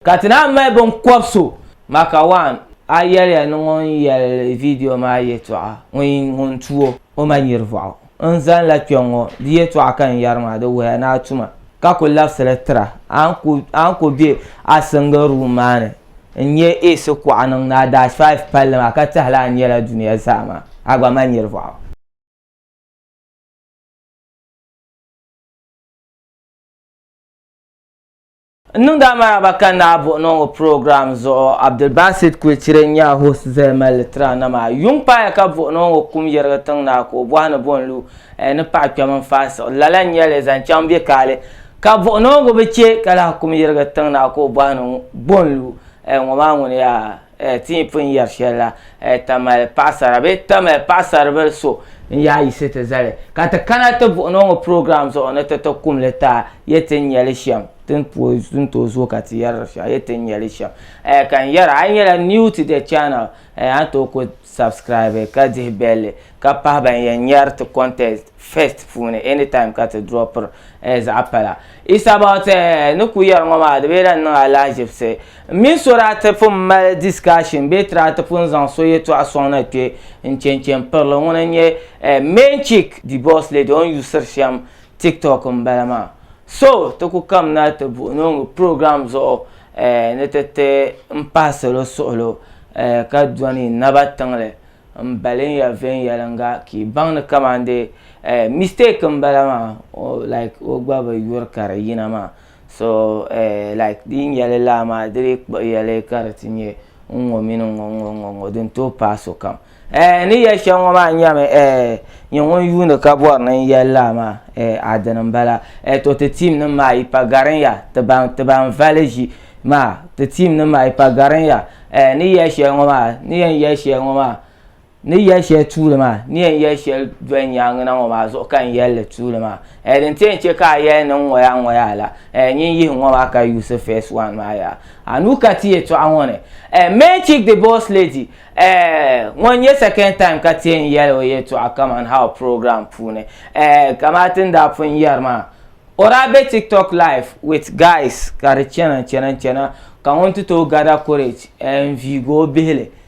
Ka ti naan mali binkɔb so. Maka waan a yɛliya ni ŋun yɛli viidiyo maa yɛtɔɣa ŋun yi ŋun tu o o ma nyirivɔɣu. N zanila kpɛŋŋɔ di yɛtɔɣa ka n yɛri maa di wuhiya ni a tuma ka ku labisili tira. A ni ku be a single room maa ni n nyɛ Ace kuɣa niŋ ni a dash five palli maa ka tahila a ni nyɛla dunia zaa maa a gba ma nyirivɔɣu. N niŋdi a maraba ka naai buɣi niŋ o program zuɣu. Abdulbasit Kwecire n-nyɛ a host Zaya Mali Litra na maa. Yuŋ paaya ka buɣi niŋ o kum yɛrigi tiŋ naa ka o bɔhi ni bɔ n-lu ɛɛ ni paɣa kpɛm n-faasiɣi lala n-nyɛ li zaŋ chaŋ bɛ kaali ka buɣi niŋgu bi che ka lahi kum yɛrigi tiŋ naa ka o bɔhi ni bɔ n-lu ɛɛ ŋɔ maa ŋuni yaa? Ti ni pun yɛri shɛli la, Tamali paɣisara bee Tamali paɣisaribili so n-yaa a yiɣisi ti zali ka ti kana ti buɣin o ŋɔ program zuɣu ni ti ti kum li ti a yɛ ti ni nya li shɛm ti ni pooi n tooi zooi ka ti yɛri di shɛm a yɛ ti ni nya li shɛm. Ka n yɛra a yi nyɛla new to the channel a ni tooi kuli subscribe ka dihi belli ka pahi ban yɛn nyari ti content first puuni anytime ka ti dropiri zaɣ'pala. It's about ni ku yɛri ŋɔ maa di bee lahi niŋ alahiʒibisi. M mini so daa ti pun mali discussion bee daa ti pun zaŋ so yɛtɔɣa sɔŋ na kpe n-che n-che m-pirili. Ŋuna n-nyɛ eh main chick, the boss lady, o ni yusiri shɛm TikTok m-bala maa. So ti ku kamina ti buɣi noongu program zuɣu eh ni ti ti n pahi salo suɣulo eh ka dɔni naba tiŋli m-balin ya viɛnyɛliŋga ka yi baŋ ni kamandee eh mistake m-bala maa oh like o gba bi yuri ka di yina maa. So eh, like di yin yɛli laa maa di dii kpuɣi yɛli ka di ti nyɛ n ŋɔ mini n ŋɔ n ŋɔ n ŋɔ n ŋɔ din tooi paai sokam. Eh, ni yɛli shɛm ŋɔ maa nyɛmi eh, nyɛ ŋun yuuni ka bɔri ni n yɛli laa maa eh, a dini m-bala. Eh, to ti team nim maa yi pa garin ya ti ban ti ban vali ʒi maa ti team nim maa yi pa garin ya eh, ni yɛli shɛli ŋɔ maa ni yɛn yɛli shɛli ŋɔ maa. Ni yɛli shɛli tuuli maa, ni yɛn yɛli shɛli doli nyaaŋa na ŋɔ maa zuɣu ka n yɛli li tuuli maa. Ɛɛ din ti yɛn chɛ ka a yɛli ni n ŋɔ yaa ŋɔ yaa la, ɛɛ nyin yihi ŋɔ maa ka yuusi first one maa yaa. A nuu ka ti yɛtɔɣa ŋɔ ni, ɛɛ main chick the boss lady, ɛɛ ŋɔ n-nyɛ second time ka ti yɛn yɛli o yɛtɔɣa kaman ha o program puuni, ɛɛ kamani ti ni daa pun yɛri maa, o daa be tiktok live with guys ka di chana chana chana ka ŋun ti tooi gather courage, ɛɛ n-viigi o bihili.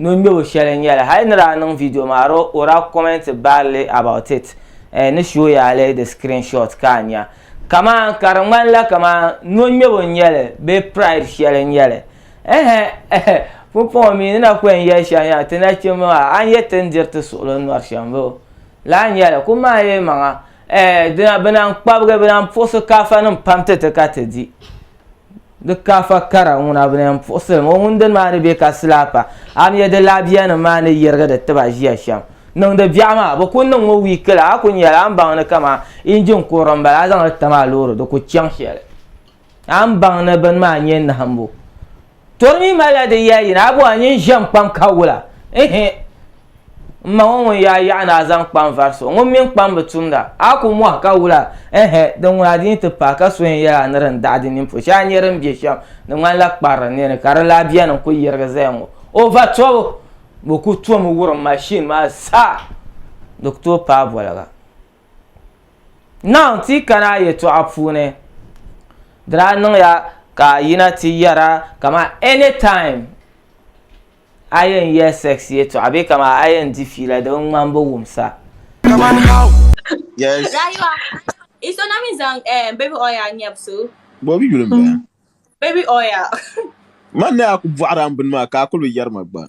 Nɔŋmɛbo shɛli n nyɛli hali ni daa niŋ video maa di o daa comment badly about it eh ni show ya li di screenshot ka a nya kaman ka di ŋmanila kaman nɔŋmɛbo n nyɛli bee pride shɛli n nyɛli ehe eh pumpɔŋɔ mi ni na kwen yɛli shɛm yaa ti nachimba maa a ni yɛ ti ni diri ti suɣili n nɔri shɛm bee o lahi nyɛli kum maa yɛlimaŋa eh dina bɛ na n kpabigi bɛ na n puɣisi kaafanim pam ti ti ka ti di Di kaafa kara ŋuna bi na puɣisili ŋɔ ŋun dini maa ni bɛ ka silapa a mi di labiya nim maa ni yirigi di tiba ʒiya shɛm niŋdi biɛɣu maa bi ku niŋ ŋɔ wiiki la a ku ni yɛli a ni baŋ ni kamani injin kurili n bala a zaŋli tam a loori di ku chaŋ shɛli a ni baŋ ni bini maa nyɛ nahimbu To di mi malila di yɛli yina, Abu a nyin ʒiɛm kpam ka wula? Ihi! M ma ŋɔ ŋun yaa yaɣi ni a zaŋ kpam vari so, ŋun mini kpam bi tumda. A ku mɔhi ka wula? Ihi! Di ŋuna di ni ti paai ka so yɛn yɛli a ni din daɣi di nini polo shɛli a ni nyɛ din be shɛm di ŋmanila kparili ni ni ka di lahi beni n kuli yirigi zaya ŋɔ. O va tɔbu! Bɛ kuli tomi wurim mashin maa sa di ku tooi paai boliga. Naawuni ti yi kana a yɛtɔɣa puuni di daa niŋya ka a yina ti yɛra kama any time a yɛn yɛ sex yɛtɔɣa bee kama a yɛn di fiila di bi ŋmani bi wumsa Yes. Rayuwa. Iso na mi zaŋ eh, baby oil nyɛb so. Bɔbi yuli m-bala. Baby oil. Man ni a ku bɔɣiri a m bini maa ka a kuli bi yɛri ma gba.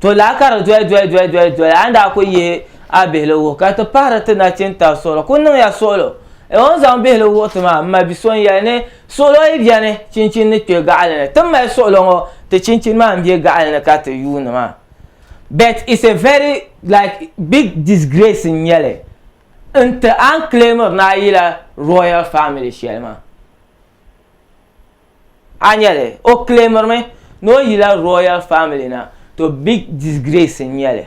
to laa ka di doli doli doli doli doli a ni daa ku yihi a bihili wuhi ka ti pahiri ti nachin tari suɣulo ku niŋya suɣulo e o ni zaŋ bihili wuhi ti maa m ma bi so n yɛli ni suɣulo yi bɛni chinchin ni kpɛ gaɣali ni ti mali suɣulo ŋɔ ti chinchin maa n bɛ gaɣali ni ka ti yuuni maa but it's a very like big disgrace n nyɛli n ti an claimir ni a yila royal family shɛli maa a nya li, o claimiri mi ni o yila royal family na, to big disgrace n nya li.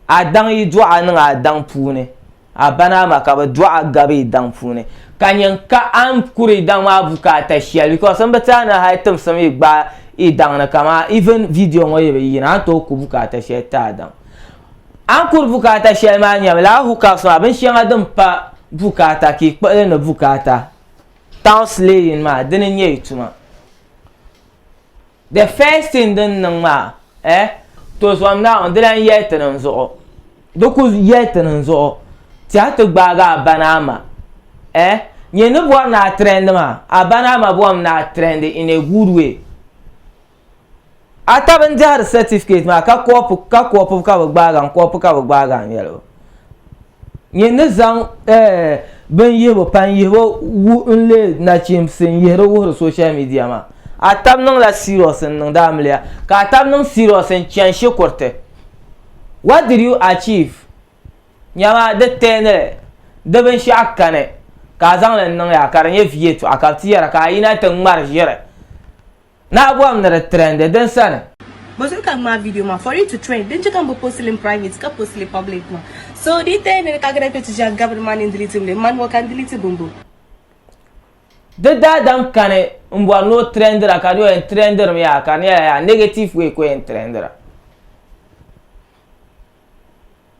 A daŋ yi dɔɣa niŋ a daŋ puuni, a ba ni a ma ka bɛ dɔɣa gabi yi daŋ puuni, ka nya ka a ni kuri yi daŋ maa bukaata shɛli because m bi ti a ni hali timsim yi gbaai yi daŋ ni kaman even video ŋɔ yi bi yina a ni tooi ku bukaata shɛli ti a daŋ. A ni kuri bukaata shɛli maa nyɛmi lala hookah song a bin shɛŋa din pa bukaata ka yi kpuɣili ni bukaata town slaying maa dini n nyɛ yi tuma the first thing din niŋ maa eh to zom na ŋɔ di lan yɛli ti niŋ zuɣu di ku yɛli ti niŋ zuɣu tɛha ti gbaagi a ba ni a ma eh nyɛ ni bɔri ni a trend maa a ba ni a ma bɔrimi ni a trend in a good way. A tabi n-dɛhiri sɛtifikɛti maa ka kɔpu ka kɔpu ka bɛ gbaagi a n kɔpu ka bɛ gbaagi a n-yɛli o nyin ni zaŋ eh, bin yihibu pan yihibu wu n-leei nachimsi n-yihiri wuhiri social media maa. A tabi niŋla serious n-niŋdi amiliya ka a tabi niŋ serious n-chani shikuriti. What did you achieve? Nyama di tɛɛni di binshɛɣu kani ka a zaŋ li n-niŋ ya ka di nyɛ viɛtɔɣa ka bɛ ti yɛra ka a yina ti ŋmari ʒiri. Naɣi bɔhim ni di trend din sani. Bɔ zuɣu ka ŋmaai video maa for it to trend din che ka m bi post li n private ka post li public maa so di taya ni di ka gana kpe ti ʒiɛhi gabiri ma ni n delete li m ma ni ŋɔ ka n delete bumbu. Di daadam kani n bɔri ni o trendira ka di o yɛn trendiri mi yaa ka di nyɛla yaa negative way ka o yɛn trendira.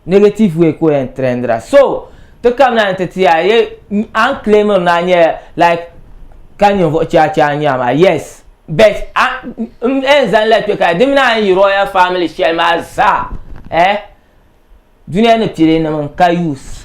Negative way ka o yɛn trendira. So, ti kam na ni ti ti a ye a ni claimiri ni a nyɛla like ka ninvuɣu chɛ a chɛ a ni nya maa yes but a m yɛn zaŋ la kpe ka di mini a ni yi royal family shɛli maa zaa eh duniya ni pilinim n ka use.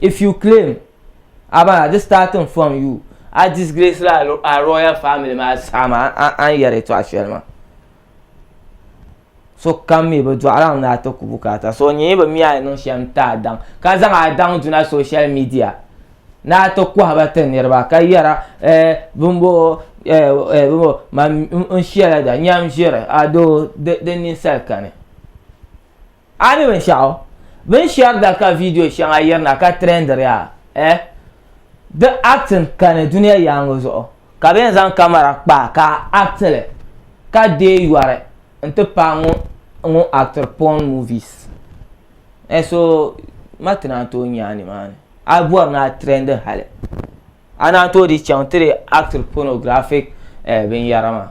If you claim a ba di starting from you a disgrace la a royal family ma a saɣim a a ni yɛri tɔɣa shɛli ma so kam mi bi dɔɣira n daa ti ku bukaata so nyɛ bi mi a ni niŋ shɛm ti a daŋ ka zaŋ a daŋ duna social media na ti kɔhiba ti niriba ka yɛra eh, bimbo eh, eh, bimbo man n shɛla da nyam ʒiri adoo di ninsali kani A ni binshɛɣu bini shɛri da ka vidiyo shɛŋa yirina ka trɛndiri a, eh? Di acting kani dunia yaaŋa zuɣu ka bɛ yɛn zaŋ kamara kpa a ka a act li ka deei yɔri n-ti paai ŋun actiri porn movies. Eh so ma ti naan tooi nya a nimaani. A bɔri ni a trɛndi hali. A ni a tooi di chaŋ ti di acted pornographic eh binyara maa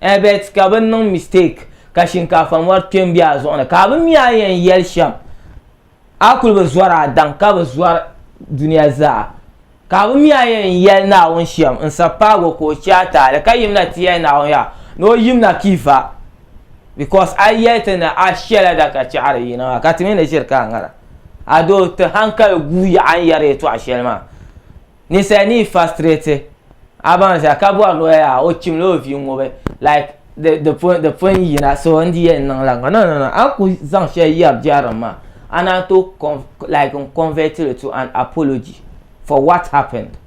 eh bet ka bɛ niŋ mistake ka shinkaafa mɔri kpe m-be a zuɣu ni ka a bi mi a yɛn yɛli shɛm a kuli bi zɔri a daŋ ka bi zɔri dunia zaa ka a bi mi a yɛn yɛli Naawuni shɛm n sapaago ka o che a taali ka yim na ti yɛli Naawuni yaa ni o yim na kpi va because a yɛli ti ni a shɛla da ka chɛɣiri yina maa ka ti mi ni ʒiri ka a ŋara. Adoo ti hankali guui yaɣa n yɛri yɛtɔɣa shɛli maa. Ninsali ni yi fastrate a baŋ zaa ka bɔri ni o yɛli a o chimla o vii ŋubi like di di pun di pun yina so n di yɛn niŋla ŋɔ no no no a ni ku zaŋ shɛli yɛri biɛrim maa a naan tooi con like n convert li to an apology for what happened.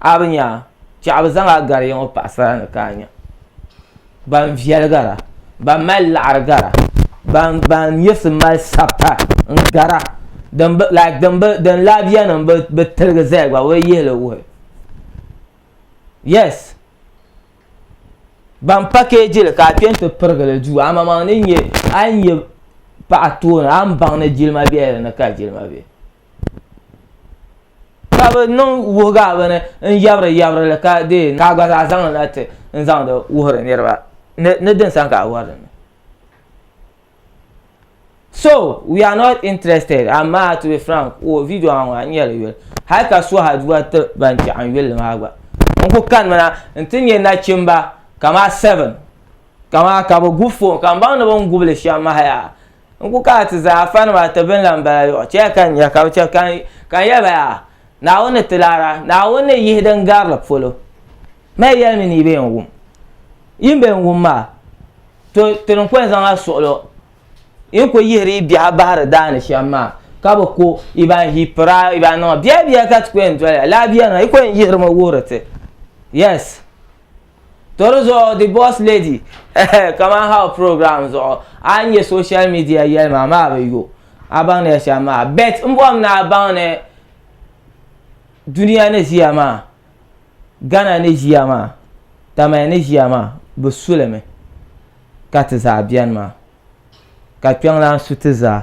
A bi nya a, chɛ a bi zaŋ a gari yiŋɔ paɣisara ni ka a nya ban viɛli gara, ban mali liɣiri gara, ban nyɛvisi mali sabita n-gara din lahibiyanima bi tiligi zaya gba bɛ bi yihi li wuhi. Yes! Ban pakɛɛji li ka a kpɛ nti pirigi li duu amaa a ni nya paɣa tooni a ni baŋ ni jilima bela di ni ka jilima be. ka bi niŋ wuhiga bini n yabiri yabiri li ka dee ka gba zaa zaŋ na ti n zaŋdi wuhiri niriba ni ni din sani ka a wari dini so we are not interested amaa to be frank o video maa ŋɔ a nyɛ li yoli hali ka suha dua ti ban chɛɣu n yuli maa gba n ku kani mi na n ti nyɛ nachimba kamaa seven kamaa ka bi gu fon ka n baŋ ni bin gubili shɛm mahaya. n ku ka a ti zaa fani maa ti bini la n bala yɔɣu chɛya ka n nya ka bi chɛ ka n yɛli ba yaa Naawuni ni ti laara Naawuni ni yihi din gari li polo mali yɛli mi ni yi bee n-wum yi ni bee n-wum maa to ti ni kɔli zaŋ a suɣilo yi ni ku yihiri yi biɛhi bahiri daa ni shɛm maa ka bi ku yi ban ʒi pira yi ban niŋ biɛhibiɛhi ka ti ku yɛn doli ya lala biɛri na yi ku yɛn yihiri mi wuhiri ti yes To di zuɣu the boss lady ehe kaman how program zuɣu a ni nya social media yɛli maa maa bi yo a baŋ ni ya shɛm maa bet n bɔhim ni a baŋ ni dunia ni ʒiya maa Ghana ni ʒiya maa Tamale ni ʒiya maa bi su li mi ka ti zaa beni maa ka kpiɔŋlan su ti zaa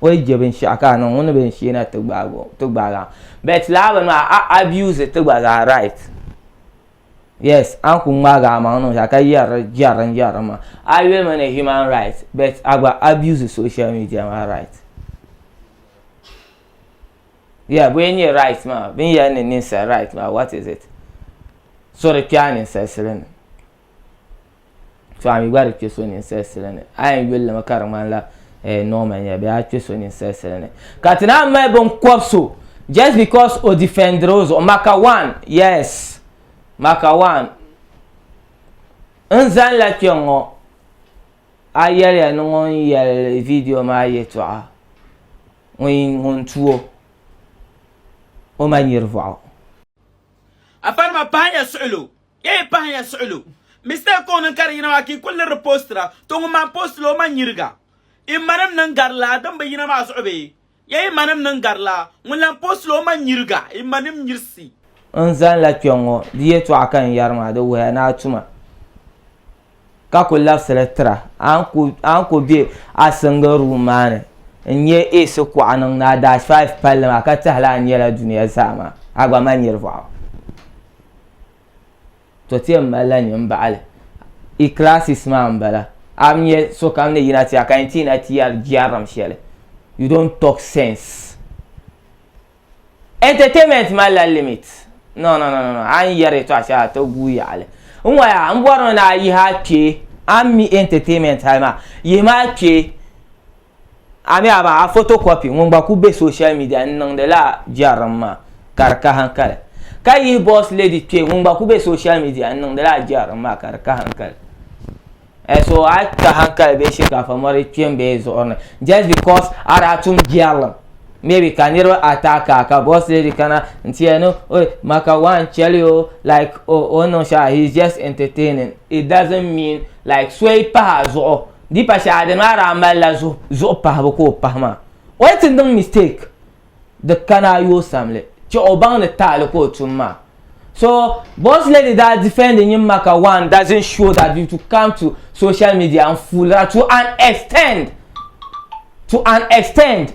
o yi je binshɛɣu ka a niŋ ŋuni bee n shee na ti gbaagi a bet lala bini maa a abuse ti gba zaa right. yes an ku ŋmaagi a maŋ niŋ shɛli ka yɛri jɛri din jɛri ma a yuli mi ni human right but a gba abuse social media maa right yeah bɔyɛ nyɛ right maa bin yɛli ni ninsali right maa what is it so di kpɛa ninsali sili ni to a mi gba di kpe so ninsal sili ni a yɛn yuli limi ka di ŋmanila eh, normal nyɛla bee a kpe so ninsal sili ni ka ti naan mali binkɔb so just because o defendiri o zuɣu maka one yes maka one n zanila kpe ŋɔ a yɛliya ni ŋun yɛli video maa yɛtɔɣa ŋun tuo o ma nyiri vɔɣu. Afanima pahiya suɣilo. Ya yi pahi ya suɣilo. Mistake ka o niŋ ka di yina maa ka yi kuli liriri postira. To ŋun maa postila o ma nyiriga. I manim niŋ gari laa din bi yina maa zuɣu bee? Ya yi manim niŋ gari laa. Ŋun lan postila o ma nyiriga. I manim nyirisi. N zani la kpɛŋŋo, di yɛltɔɣa ka n yɛri maa di wuhiya ni a tuma. ka ku labisili tira, a ni ku, a ni ku be a single room maa ni n-nyɛ AC kuɣa niŋ ni a dash five palli maa ka tɛhila a nyɛla dunia zaa maa, a gba mali nirivuɣu. To ti yɛn malila nyin m-baɣili i classes maa m-bala. A bi nya sokam ni yina ti a ka yɛn ti yina ti yɛri jɛrim shɛli, you don't talk sense. Entertainment malila limit. No no no no a ni yɛri yɛtɔɣa shɛli a ti guui yaɣili. N waya n bɔri ni ni a yihi a kpee a ni mi entertainment hali maa yihi mi a kpee a mi a baŋ a photocopy ŋun gba kuli be social media n niŋdi la jɛrim maa ka di kahinkali ka yihi boss lady kpee ŋun gba kuli be social media n niŋdi la jɛrim maa ka di kahinkali. Eh, so a ka hankali bee shinkafa mɔri kpe n bee zuɣuri ni just because a daa tum biɛrilim maybe ka niriba ata ka ka boss lady kana n tiya ni oy maka one chɛli o like o o niŋ shaa he is just entertaining it doesn't mean like soyi pahi a zuɣu di pa shɛli a dini maa daa mali la zuɣu zuɣu pahibu ka o pahi maa oy ti niŋ mistake di kana a yoo samli chɛ o baŋ ni taali ka o tum maa. So, Boss Lady daa defend nyin ma ka one doesn't show that you to come to social media n fool ra to an extend to an extend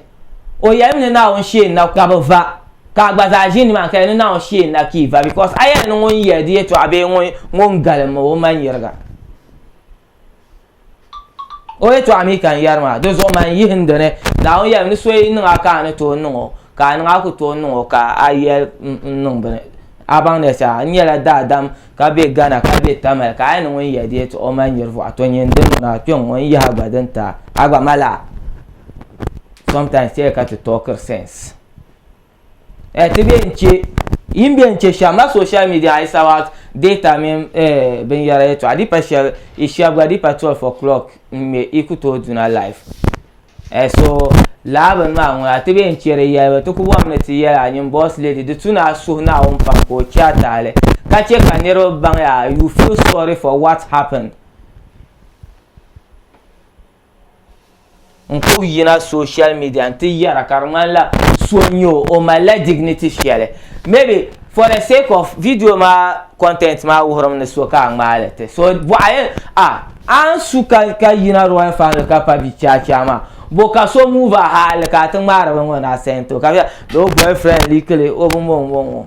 o yɛli mi ni Naawuni sheen na ka bi va ka a gba zaa ʒi nimaani ka yɛli ni Naawuni sheen na ka yi va because a yɛli ni ŋun yɛli di yɛtɔɣa bee ŋun galim o ma nyiriga. o yɛtɔɣa mi ka n yɛri maa di zuɣu man yihi n dini naawuni yɛli ni so yi niŋ a ka a ni tooi niŋ o ka a niŋ a ku tooi niŋ o ka a yɛli n niŋ bini a baŋ ni sa n nyɛla daadam ka bɛ gana ka bɛ tamali ka a yi niŋ ŋun yɛ di yɛtɔɣa o mali nyɛri vuɣa to nyɛ n dini ŋɔ na kpɛ ŋɔ n yihi a gba din ta a gba mali a sometimes tɛya ka ti talkiri sense eh, ti be n che yin be n che shɛm la social media is about data mini eh, binyɛra yɛtɔɣa a di pa shɛli i shɛb gba di pa 12 o'clock n ŋmɛ i ku tooi duna life eh, so laa bini maa ŋuna ti be n che di yɛlibu ti ku bɔm ni ti yɛli a nyin boss lady di tu ni a suhu naawuni pam ka o che a taali ka che ka niriba baŋ ya you feel sorry for what happened n kub yina social media n ti yɛra ka di ŋmanila so n-nyɛ o o malila dignity shɛli maybe for the sake of video maa content maa wuhirimi ni so ka a ŋmaali ti so bɔɣa yɛn a an su ka ka yina royal family ka pa bi chaachaa maa bo ka so move a haali ka a ti ŋmaari bin ŋɔ na sento ka bɛ o boyfriend likili o bi mɔŋmɔŋ o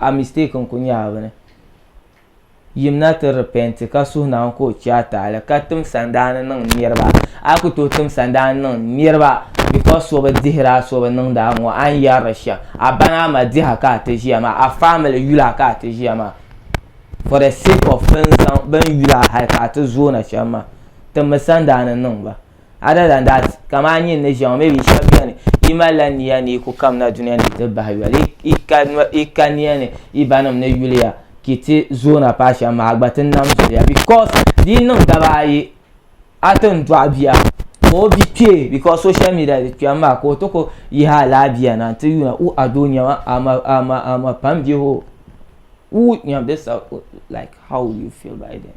a mistake n-ku nya a bini. Yimina ti repent ka suhi Naawuni ka o chɛ a taali ka tim sandaani niŋ niriba. A yi ku tooi tim sandaani niŋ niriba because so bi dihiri a so bi niŋdi a ŋɔ, a ni yɛri di shɛm. A ba ni a ma diha ka a ti ʒiya maa, a family yula ka a ti ʒiya maa. For the sake of bɛ ni zaŋ, bɛ ni yula hali ka a ti zooi na shɛm maa, timmi sandaani niŋ ba. other than that kamani a nyini ni ʒiɛŋ maybe shɛba beni yi malila niya ni yi ku kamina duniya ni yi ti bahi yoli yi ka yi ka niya ni yi ba nim ni yuliya ka yi ti zoona paai shɛm maa a gba ti nam zuliya because di yi niŋ daba ayi a ti ni dɔɣi bia ka o bi kpee because social media di kpɛm maa ka o ti ku yihi alaabiya na n ti yuuna u a doo nyɛma ama ama ama pam bihi o u nyɛm this uh, like how you feel by then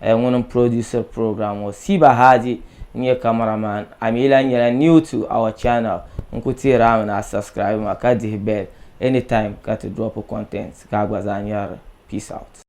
eh, ŋuni n producer program ŋɔ Siba Hadi n nyɛ camera man a mi lan nyɛla new to our channel n ku teeri a mi ni a subscribe ma ka dihi bell anytime ka ti drop content ka a gba zaa nyarili peace out.